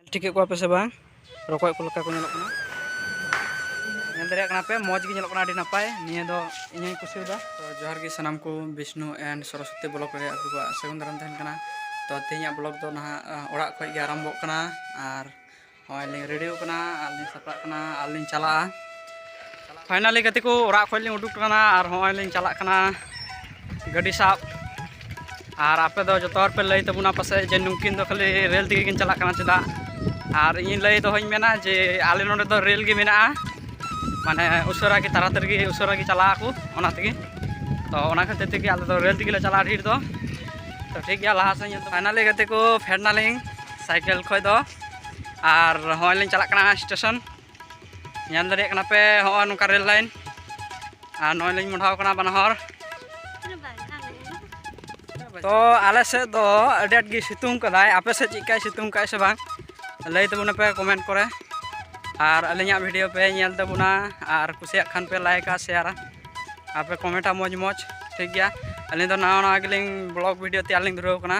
ᱧᱮᱞ ᱴᱷᱤᱠᱮᱫ ᱠᱚᱣᱟ ᱯᱮ ᱥᱮ ᱵᱟᱝ ᱨᱚᱠᱚᱡ ᱠᱚ ᱞᱮᱠᱟ ᱠᱚ ᱧᱮᱞᱚᱜ ᱠᱟᱱᱟ ᱧᱮᱞ ᱫᱟᱲᱮᱭᱟᱜ ᱠᱟᱱᱟ ᱯᱮ ᱢᱚᱡᱽ ᱜᱮ ᱧᱮᱞᱚᱜ ᱠᱟᱱᱟ ᱟᱹᱰᱤ ᱱᱟᱯᱟᱭ ᱱᱤᱭᱟᱹ ᱫᱚ ᱤᱧ ᱦᱚᱸᱧ ᱠᱩᱥᱤᱭᱟᱫᱟ ᱛᱚ ᱡᱚᱦᱟᱨ ᱜᱮ ᱥᱟᱱᱟᱢ ᱠᱚ ᱵᱤᱥᱱᱩ ᱮᱱᱰ ᱥᱚᱨᱚᱥᱚᱛᱤ ᱵᱞᱚᱜ ᱨᱮ ᱟᱯᱮ ᱠᱚᱣᱟᱜ ᱥᱟᱹᱜᱩᱱ ᱫᱟᱨᱟᱢ ᱛᱟᱦᱮᱱ ᱠᱟᱱᱟ ᱛᱚ ᱛᱮᱦᱮᱧᱟᱜ ᱵᱞᱚᱜ ᱫᱚ ᱱᱟᱦᱟᱜ ᱚᱲᱟᱜ ᱠᱷᱚᱡ ᱜᱮ ᱟᱨᱟᱢᱵᱷᱚᱜ ᱠᱟᱱᱟ ᱟᱨ ᱱᱚᱜᱼᱚᱭ ᱞᱤᱧ ᱨᱮᱰᱤ ᱟᱠᱟᱱᱟ ᱟᱨ ᱞᱤᱧ ᱥᱟᱯᱲᱟᱜ ᱠᱟᱱᱟ ᱟᱨ ᱞᱤᱧ ᱪᱟᱞᱟᱜᱼᱟ ᱯᱷᱟᱭᱱᱟᱞᱤ ᱜᱟᱛᱮ ᱠᱚ ᱚᱲᱟᱜ ᱠᱷᱚᱱ ᱞᱤᱧ ᱩᱰᱩᱠ ᱠᱟᱱᱟ ᱟᱨ ᱦᱚᱸᱜᱼᱚᱭ ᱞᱤᱧ ᱪᱟᱞᱟᱜ ᱠᱟᱱᱟ ᱜᱟᱹᱰᱤ ᱥᱟᱵ ᱟᱨ ᱟᱯᱮ ᱫᱚ ᱡᱚᱛᱚ ᱦᱚᱲ ᱯᱮ ᱞᱟᱹᱭ ᱛᱟᱵᱚᱱᱟ ᱯᱟᱥᱮᱡ ᱡᱮ ᱱᱩᱠᱤᱱ ᱫᱚ ᱠᱷᱟᱹᱞᱤ ᱨᱮᱹᱞ ᱛᱮᱜᱮ ᱠᱤᱱ ᱪᱟᱞᱟᱜ ᱠᱟᱱᱟ ᱪᱮᱫᱟᱜ ᱟᱨ ᱤᱧ ᱞᱟᱹᱭ ᱫᱚᱦᱚᱧ ᱢᱮᱱᱟ ᱡᱮ ᱟᱞᱮ ᱱᱚᱰᱮ ᱫᱚ ᱨᱮᱹᱞ ᱜᱮ ᱢᱮᱱᱟᱜᱼᱟ ᱢᱟᱱᱮ ᱩᱥᱟᱹᱨᱟ ᱜᱮ ᱛᱟᱲᱟᱛᱟᱲᱤ ᱜᱮ ᱩᱥᱟᱹᱨᱟ ᱜᱮ ᱪᱟᱞᱟᱜ ᱟᱠᱚ ᱚᱱᱟ ᱛᱮᱜᱮ ᱛᱚ ᱚᱱᱟ ᱠᱷᱟᱹᱛᱤᱨ ᱛᱮᱜᱮ ᱟᱞᱮ ᱫᱚ ᱨᱮᱹᱞ ᱛᱮᱜᱮ ᱞᱮ ᱪᱟᱞᱟᱜᱼᱟ ᱰᱷᱮᱨ ᱫᱚ ᱛᱚ ᱴᱷᱤᱠ ᱜᱮᱭᱟ ᱞᱟᱦᱟ ᱥᱮᱫ ᱧᱮᱞ ᱯᱷᱟᱭᱱᱟᱞᱤ ᱜᱟᱛᱮ ᱠᱚ ᱯᱷᱮᱰ ᱱᱟᱞᱤᱧ ᱥᱟᱭᱠᱮᱞ ᱠᱷᱚᱡ ᱫᱚ ᱟᱨ ᱦᱚᱸᱜᱼᱚᱭ ᱞᱤᱧ ᱪᱟᱞᱟᱜ ᱠᱟᱱᱟ ᱥᱴᱮᱥᱚᱱ ᱧᱮᱞ ᱫᱟᱲᱮᱭᱟᱜ ᱠᱟᱱᱟ ᱯᱮ ᱦᱚᱸᱜᱼᱚᱭ ᱱᱚᱝᱠᱟ ᱨᱮᱞ ᱞᱟᱭᱤᱱ ᱟᱨ ᱱᱚᱜᱼᱚᱭ ᱞᱤᱧ ᱢᱚᱰᱷᱟᱣ ᱠᱟᱱᱟ ᱵᱟᱱᱟ ᱦᱚᱲ ᱛᱚ ᱟᱞᱮ ᱥᱮᱫ ᱫᱚ ᱟᱹᱰᱤ ᱟᱸᱴ ᱜᱮ ᱥᱤᱛᱩᱝ ᱠᱟᱫᱟᱭ ᱟᱯᱮ ᱥᱮᱫ ᱪᱮᱫᱠᱟᱭ ᱥᱤᱛᱩᱝ ᱠᱟᱜᱼᱟᱭ ᱥᱮ ᱵᱟᱝ ᱞᱟᱹᱭ ᱛᱟᱵᱚᱱᱟ ᱯᱮ ᱠᱚᱢᱮᱱᱴ ᱠᱚᱨᱮ ᱟᱨ ᱟᱹᱞᱤᱧᱟᱜ ᱵᱷᱤᱰᱤᱭᱳ ᱯᱮ ᱧᱮᱞ ᱛᱟᱵᱚᱱᱟ ᱟᱨ ᱠᱩᱥᱤᱭᱟᱜ ᱠᱷᱟᱱ ᱯᱮ ᱞᱟᱭᱤᱠᱟ ᱥᱮᱭᱟᱨᱟ ᱟᱨ ᱯᱮ ᱠᱚᱢᱮᱱᱴᱟ ᱢᱚᱡᱽ ᱢᱚᱡᱽ ᱴᱷᱤᱠ ᱜᱮᱭᱟ ᱟᱹᱞᱤᱧ ᱫᱚ ᱱᱟᱣᱟ ᱱᱟᱣᱟ ᱜᱮᱞᱤᱧ ᱵᱞᱚᱜᱽ ᱵᱷᱤᱰᱤᱭᱳ ᱛᱮᱭᱟᱨ ᱞᱤᱧ ᱫᱷᱩᱨᱟᱹᱣ ᱠᱟᱱᱟ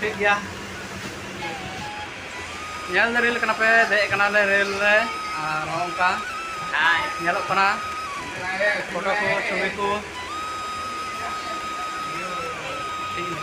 ᱴᱷᱤᱠ ᱜᱮᱭᱟ ᱧᱮᱞ ᱫᱚ ᱨᱮᱞ ᱠᱟᱱᱟ ᱯᱮ ᱫᱮᱡ ᱠᱟᱱᱟᱞᱮ ᱨᱮᱞ ᱨᱮ ᱟᱨ ᱱᱚᱝᱠᱟ ᱧᱮᱞᱚᱜ ᱠᱟᱱᱟ ᱯᱷᱳᱴᱳ ᱠᱚ ᱪᱷᱚᱵᱤ ᱠᱚ ᱴᱷᱤᱠ ᱜᱮᱭᱟ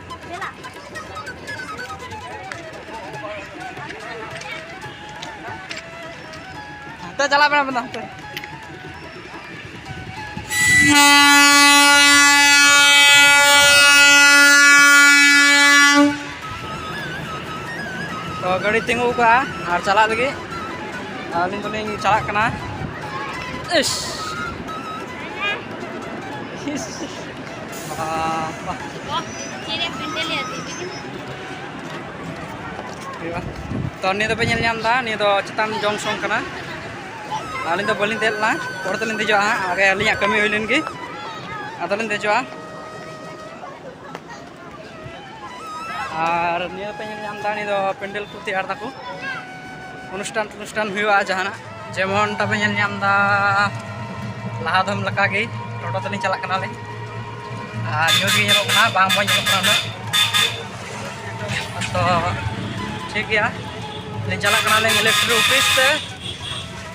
ᱦᱟᱱᱛᱮ ᱪᱟᱞᱟᱜ ᱢᱮ ᱢᱮᱱᱟ ᱦᱟᱱᱛᱮ ᱛᱚ ᱜᱟᱹᱰᱤ ᱛᱤᱸᱜᱩ ᱠᱟᱜᱼᱟ ᱟᱨ ᱪᱟᱞᱟᱜ ᱞᱟᱹᱜᱤᱫ ᱟᱹᱞᱤᱧ ᱫᱚᱞᱤᱧ ᱪᱟᱞᱟᱜ ᱠᱟᱱᱟ ᱤᱥ ᱛᱚ ᱱᱤᱭᱟᱹ ᱫᱚᱯᱮ ᱧᱮᱞ ᱧᱟᱢ ᱮᱫᱟ ᱱᱤᱭᱟᱹ ᱫᱚ ᱪᱮᱛᱟᱱ ᱡᱚᱝᱥᱚᱱ ᱠᱟᱱᱟ ᱟᱹᱞᱤᱧ ᱫᱚ ᱵᱟᱹᱞᱤᱧ ᱫᱮᱡ ᱞᱮᱱᱟ ᱯᱚᱨᱮ ᱛᱮᱞᱤᱧ ᱫᱮᱡᱚᱜᱼᱟ ᱦᱟᱸᱜ ᱟᱜᱮ ᱟᱹᱞᱤᱧᱟᱜ ᱠᱟᱹᱢᱤ ᱦᱩᱭ ᱞᱮᱱ ᱜᱮ ᱟᱫᱚᱞᱤᱧ ᱫᱮᱡᱚᱜᱼᱟ ᱟᱨ ᱱᱤᱭᱟᱹ ᱯᱮ ᱧᱮᱞ ᱧᱟᱢ ᱮᱫᱟ ᱱᱤᱭᱟᱹ ᱫᱚ ᱯᱮᱱᱰᱮᱞ ᱠᱚ ᱛᱮᱭᱟᱨ ᱫᱟᱠᱚ ᱚᱱᱩᱥᱴᱷᱟᱱ ᱚᱱᱩᱥᱴᱷᱟᱱ ᱦᱩᱭᱩᱜᱼᱟ ᱡᱟᱦᱟᱱᱟᱜ ᱡᱮᱢᱚᱱ ᱛᱟᱯᱮ ᱧᱮᱞ ᱧᱟᱢ ᱮᱫᱟ ᱞᱟᱦᱟ ᱫᱚᱢ ᱞᱮᱠᱟᱜᱮ ᱴᱳᱴᱳ ᱛᱮᱞᱤᱧ ᱪᱟᱞᱟᱜ ᱠᱟᱱᱟᱞᱮ ᱟᱨ ᱧᱩᱛ ᱜᱮ ᱧᱮᱞᱚᱜ ᱠᱟᱱᱟ ᱵᱟᱝ ᱢᱚᱡᱽ ᱧᱮᱞᱚᱜ ᱠᱟᱱᱟ ᱩᱱᱟᱹᱜ ᱛᱚ ᱴᱷᱤᱠ ᱜᱮᱭᱟ ᱞᱤᱧ ᱪᱟᱞᱟᱜ ᱠᱟᱱᱟᱞᱤᱧ ᱤᱞᱮᱠᱴᱨᱤ ᱚᱯᱷᱤᱥ ᱛᱮ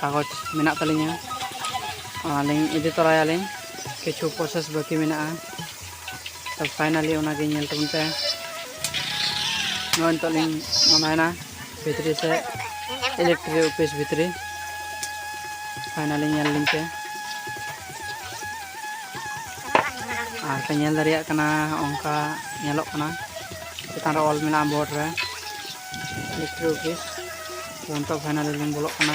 ᱠᱟᱜᱚᱡᱽ ᱢᱮᱱᱟᱜ ᱛᱟᱹᱞᱤᱧᱟ ᱚᱱᱟᱞᱤᱧ ᱤᱫᱤ ᱛᱚᱨᱟᱭᱟᱞᱤᱧ ᱠᱤᱪᱷᱩ ᱯᱨᱚᱥᱮᱥ ᱵᱟᱹᱠᱤ ᱢᱮᱱᱟᱜᱼᱟ ᱛᱚ ᱯᱷᱟᱭᱱᱟᱞᱤ ᱚᱱᱟᱜᱮ ᱧᱮᱞ ᱛᱟᱵᱚᱱ ᱯᱮ ᱱᱚᱜᱼᱚᱭ ᱱᱤᱛᱚᱜ ᱞᱤᱧ ᱢᱚᱱᱟᱭᱮᱱᱟ ᱵᱷᱤᱛᱨᱤ ᱥᱮ ᱤᱞᱮᱠᱴᱨᱤ ᱚᱯᱷᱤᱥ ᱵᱷᱤᱛᱨᱤ ᱯᱷᱟᱭᱱᱟᱞᱤ ᱧᱮᱞ ᱞᱤᱧ ᱯᱮ ᱟᱨ ᱯᱮ ᱧᱮᱞ ᱫᱟᱲᱮᱭᱟᱜ ᱠᱟᱱᱟ ᱚᱱᱠᱟ ᱧᱮᱞᱚᱜ ᱠᱟᱱᱟ ᱪᱮᱛᱟᱱ ᱨᱮ ᱚᱞ ᱢᱮᱱᱟᱜᱼᱟ ᱵᱳᱨᱰ ᱨᱮ ᱢᱤᱥᱴᱨᱤ ᱚᱯᱷᱤᱥ ᱱᱤᱛᱚᱜ ᱯᱷᱟᱭᱱᱟᱞ ᱞᱤᱧ ᱵᱚᱞᱚᱜ ᱠᱟᱱᱟ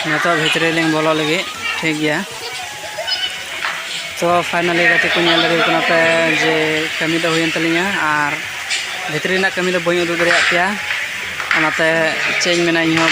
ᱱᱤᱛᱚᱜ ᱵᱷᱤᱛᱨᱤ ᱞᱤᱧ ᱵᱚᱞᱚ ᱞᱟᱹᱜᱤᱫ ᱴᱷᱤᱠ ᱜᱮᱭᱟ ᱛᱚ ᱯᱷᱟᱭᱱᱟᱞᱤ ᱜᱟᱛᱮ ᱠᱚ ᱧᱮᱞ ᱫᱟᱲᱮ ᱠᱟᱱᱟ ᱯᱮ ᱡᱮ ᱠᱟᱹᱢᱤ ᱫᱚ ᱦᱩᱭᱮᱱ ᱛᱟᱹᱞᱤᱧᱟ ᱟᱨ ᱵᱷᱤᱛᱨᱤ ᱨᱮᱱᱟᱜ ᱠᱟᱹᱢᱤ ᱫᱚ ᱵᱟᱹᱧ ᱩᱫᱩᱜ ᱫᱟᱲᱮᱭᱟᱜ ᱯᱮᱭᱟ ᱚᱱᱟᱛᱮ ᱪᱮᱫ ᱤᱧ ᱢᱮᱱᱟ ᱤᱧᱦᱚᱸ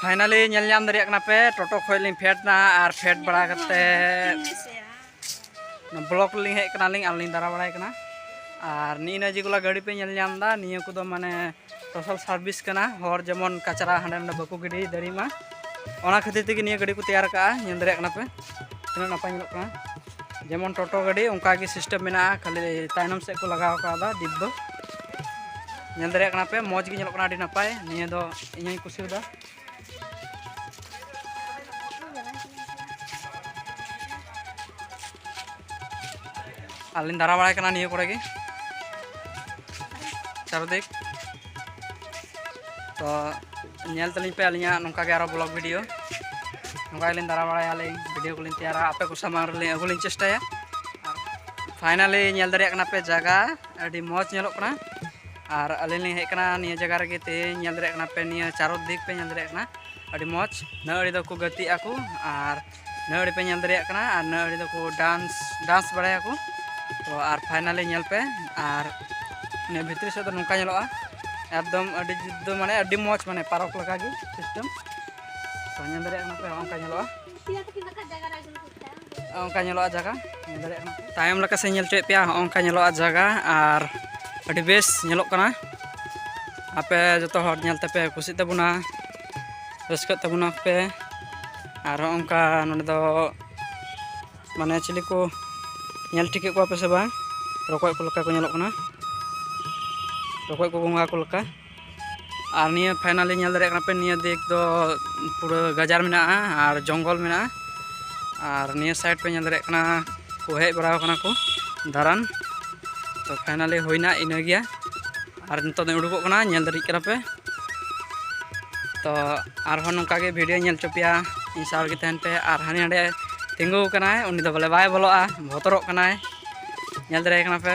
ᱯᱷᱟᱭᱱᱟᱞᱤ ᱧᱮᱞ ᱧᱟᱢ ᱫᱟᱲᱮᱭᱟᱜ ᱠᱟᱱᱟ ᱯᱮ ᱴᱳᱴᱳ ᱠᱷᱚᱡ ᱞᱤᱧ ᱯᱷᱮᱰ ᱮᱱᱟ ᱟᱨ ᱯᱷᱮᱰ ᱵᱟᱲᱟ ᱠᱟᱛᱮ ᱵᱞᱚᱠ ᱨᱮᱞᱤᱧ ᱦᱮᱡ ᱠᱟᱱᱟᱞᱤᱧ ᱟᱨ ᱞᱤᱧ ᱫᱟᱬᱟ ᱵᱟᱲᱟᱭ ᱠᱟᱱᱟ ᱟᱨ ᱱᱤᱭᱟᱹ ᱡᱮᱜᱩᱞᱟ ᱜᱟᱹᱰᱤ ᱯᱮ ᱧᱮᱞ ᱧᱟᱢ ᱮᱫᱟ ᱱᱤᱭᱟᱹ ᱠᱚᱫᱚ ᱢᱟᱱᱮ ᱥᱳᱥᱟᱞ ᱥᱟᱨᱵᱷᱤᱥ ᱠᱟᱱᱟ ᱦᱚᱲ ᱡᱮᱢᱚᱱ ᱠᱟᱪᱨᱟ ᱦᱟᱸᱰᱮ ᱱᱟᱰᱮ ᱵᱟᱠᱚ ᱜᱤᱰᱤ ᱫᱟᱲᱮᱭᱟᱜ ᱢᱟ ᱚᱱᱟ ᱠᱷᱟᱹᱛᱤᱨ ᱛᱮᱜᱮ ᱱᱤᱭᱟᱹ ᱜᱟᱹᱰᱤ ᱠᱚ ᱛᱮᱭᱟᱨ ᱠᱟᱜᱼᱟ ᱧᱮᱞ ᱫᱟᱲᱮᱭᱟᱜ ᱠᱟᱱᱟ ᱯᱮ ᱛᱤᱱᱟᱹᱜ ᱱᱟᱯᱟᱭ ᱧᱮᱞᱚᱜ ᱠᱟᱱᱟ ᱡᱮᱢᱚᱱ ᱴᱳᱴᱳ ᱜᱟᱹᱰᱤ ᱚᱱᱠᱟ ᱜᱮ ᱥᱤᱥᱴᱮᱢ ᱢᱮᱱᱟᱜᱼᱟ ᱠᱷᱟᱹᱞᱤ ᱛᱟᱭᱱᱚᱢ ᱥᱮᱫ ᱠᱚ ᱞᱟᱜᱟᱣ ᱠᱟᱣᱫᱟ ᱰᱤᱯ ᱫᱚ ᱧᱮᱞ ᱫᱟᱲᱮᱭᱟᱜ ᱠᱟᱱᱟ ᱯᱮ ᱢᱚᱡᱽ ᱜᱮ ᱧᱮᱞᱚᱜ ᱠᱟᱱᱟ ᱟᱹᱰᱤ ᱱᱟᱯᱟᱭ ᱱᱤᱭᱟᱹ ᱫᱚ ᱤᱧ ᱦᱚᱸᱧ ᱠᱩᱥᱤᱭᱟᱫᱟ ᱟᱞᱤᱧ ᱫᱟᱨᱟ ᱵᱟᱲᱟᱭ ᱠᱟᱱᱟ ᱱᱤᱭᱟᱹ ᱠᱚᱨᱮ ᱜᱮ ᱪᱟᱨᱫᱤᱠ ᱛᱚ ᱧᱮᱞ ᱛᱟᱹᱞᱤᱧ ᱯᱮ ᱟᱹᱞᱤᱧᱟᱜ ᱱᱚᱝᱠᱟ ᱜᱮ ᱟᱨᱚ ᱵᱞᱚᱜ ᱵᱷᱤᱰᱤᱭᱳ ᱱᱚᱝᱠᱟ ᱜᱮᱞᱤᱧ ᱫᱟᱨᱟ ᱵᱟᱲᱟᱭᱟ ᱟᱹᱞᱤᱧ ᱵᱷᱤᱰᱤᱭᱳ ᱠᱚᱞᱤᱧ ᱛᱮᱭᱟᱨᱟ ᱟᱯᱮ ᱠᱚ ᱥᱟᱢᱟᱝ ᱨᱮᱞᱤᱧ ᱟᱹᱜᱩ ᱞᱤᱧ ᱪᱮᱥᱴᱟᱭᱟ ᱯᱷᱟᱭᱱᱟᱞᱤ ᱧᱮᱞ ᱫᱟᱲᱮᱭᱟᱜ ᱠᱟᱱᱟ ᱯᱮ ᱡᱟᱭᱜᱟ ᱟᱹᱰᱤ ᱢᱚᱡᱽ ᱧᱮᱞᱚᱜ ᱠᱟᱱᱟ ᱟᱨ ᱟᱹᱞᱤᱧ ᱞᱤᱧ ᱦᱮᱡ ᱠᱟᱱᱟ ᱱᱤᱭᱟᱹ ᱡᱟᱭᱜᱟ ᱨᱮᱜᱮ ᱛᱮᱦᱮᱧ ᱧᱮᱞ ᱫᱟᱲᱮᱭᱟᱜ ᱠᱟᱱᱟ ᱯᱮ ᱱᱤᱭᱟᱹ ᱪᱟᱨᱚ ᱫᱤᱠ ᱯᱮ ᱧᱮᱞ ᱫᱟᱲᱮᱭᱟᱜ ᱠᱟᱱᱟ ᱟᱹᱰᱤ ᱢᱚᱡᱽ ᱱᱟᱹ ᱟᱹᱲᱤ ᱫᱚᱠᱚ ᱜᱟᱛᱮᱜ ᱟᱠᱚ ᱟᱨ ᱱᱟᱹ ᱟᱹᱲᱤ ᱯᱮ ᱧᱮᱞ ᱫᱟᱲᱮᱭᱟᱜ ᱠᱟᱱᱟ ᱟᱨ ᱱᱟᱹ ᱟᱹᱲᱤ ᱫᱚᱠᱚ ᱰᱟᱱᱥ ᱰᱟᱱᱥ ᱵᱟᱲᱟᱭᱟᱠᱚ ᱛᱚ ᱟᱨ ᱯᱷᱟᱭᱱᱟᱞᱤ ᱧᱮᱞ ᱯᱮ ᱟᱨ ᱱᱤᱭᱟᱹ ᱵᱷᱤᱛᱨᱤ ᱥᱮᱫ ᱫᱚ ᱱᱚᱝᱠᱟ ᱧᱮᱞᱚᱜᱼᱟ ᱮᱠᱫᱚᱢ ᱟᱹᱰᱤ ᱡᱩᱛ ᱫᱚ ᱢᱟᱱᱮ ᱟᱹᱰᱤ ᱢᱚᱡᱽ ᱢᱟᱱᱮ ᱯᱟᱨᱚᱠ ᱞᱮᱠᱟᱜᱮ ᱥᱤᱥᱴᱮᱢ ᱛᱚ ᱧᱮᱞ ᱫᱟᱲᱮᱭᱟᱜ ᱠᱟᱱᱟ ᱯᱮ ᱚᱱᱠᱟ ᱧᱮᱞᱚᱜᱼᱟ ᱚᱱᱠᱟ ᱧᱮᱞᱚᱜᱼᱟ ᱡᱟᱭᱜᱟ ᱧᱮᱞ ᱫᱟᱲᱮᱭᱟᱜ ᱠᱟᱱᱟ ᱛᱟᱭᱚᱢ ᱞᱮᱠᱟ ᱥᱮ ᱧᱮᱞ ᱦᱚᱪᱚᱭᱮᱫ ᱯᱮᱭᱟ ᱦᱚᱸᱜᱼᱚ ᱚᱱᱠᱟ ᱧᱮᱞᱚᱜᱼᱟ ᱡᱟᱭᱜᱟ ᱟᱨ ᱟᱹᱰᱤ ᱵᱮᱥ ᱧᱮᱞᱚᱜ ᱠᱟᱱᱟ ᱟᱯᱮ ᱡᱚᱛᱚ ᱦᱚᱲ ᱧᱮᱞ ᱛᱮᱯᱮ ᱠᱩᱥᱤᱜ ᱛᱟᱵᱚᱱᱟ ᱨᱟᱹᱥᱠᱟᱹᱜ ᱛᱟᱵᱚᱱᱟ ᱯᱮ ᱟᱨ ᱦᱚᱸᱜᱼᱚ ᱚᱱᱠᱟ ᱱᱚᱸᱰᱮ ᱫᱚ ᱢᱟᱱᱮ ᱪᱤᱞᱤ ᱠᱚ ᱧᱮᱞ ᱴᱷᱤᱠᱮᱫ ᱠᱚᱣᱟ ᱯᱮ ᱥᱮ ᱵᱟᱝ ᱨᱚᱠᱚᱡ ᱠᱚ ᱞᱮᱠᱟ ᱠᱚ ᱧᱮᱞᱚᱜ ᱠᱟᱱᱟ ᱨᱚᱠᱚᱡ ᱠᱚ ᱜᱚᱸᱜᱷᱟ ᱠᱚ ᱞᱮᱠᱟ ᱟᱨ ᱱᱤᱭᱟᱹ ᱯᱷᱟᱭᱱᱟᱞᱤ ᱧᱮᱞ ᱫᱟᱲᱮᱭᱟᱜ ᱠᱟᱱᱟ ᱯᱮ ᱱᱤᱭᱟᱹ ᱫᱤᱠ ᱫᱚ ᱯᱩᱨᱟᱹ ᱜᱟᱡᱟᱲ ᱢᱮᱱᱟᱜᱼᱟ ᱟᱨ ᱡᱚᱝᱜᱚᱞ ᱢᱮᱱᱟᱜᱼᱟ ᱟᱨ ᱱᱤᱭᱟᱹ ᱥᱟᱭᱤᱰ ᱯᱮ ᱧᱮᱞ ᱫᱟᱲᱮᱭᱟᱜ ᱠᱟᱱᱟ ᱠᱚ ᱦᱮᱡ ᱵᱟᱲᱟᱣ ᱠᱟᱱᱟ ᱠᱚ ᱫᱟᱬᱟᱱ ᱛᱚ ᱯᱷᱟᱭᱱᱟᱞᱤ ᱦᱩᱭᱱᱟ ᱤᱱᱟᱹ ᱜᱮᱭᱟ ᱟᱨ ᱱᱤᱛᱚᱜ ᱫᱚ ᱩᱰᱩᱠᱚᱜ ᱠᱟᱱᱟ ᱧᱮᱞ ᱫᱟᱲᱮᱭᱟᱜ ᱠᱟᱱᱟ ᱯᱮ ᱛᱚ ᱟᱨᱦᱚᱸ ᱱᱚᱝᱠᱟ ᱜᱮ ᱵᱷᱤᱰᱤᱭᱳ ᱧᱮᱞ ᱦᱚᱪᱚ ᱯᱮᱭᱟ ᱤᱧ ᱥᱟᱶ ᱜᱮ ᱛᱟᱦᱮᱱ ᱯᱮ ᱟᱨ ᱦᱟᱹᱱᱤ ᱦᱟᱸᱰᱮ ᱛᱤᱸᱜᱩ ᱠᱟᱱᱟᱭ ᱩᱱᱤ ᱫᱚ ᱵᱚᱞᱮ ᱵᱟᱭ ᱵᱚᱞᱚᱜᱼᱟ ᱵᱚᱛᱚᱨᱚᱜ ᱠᱟᱱᱟᱭ ᱧᱮᱞ ᱫᱟᱲᱮᱭᱟᱭ ᱠᱟᱱᱟ ᱯᱮ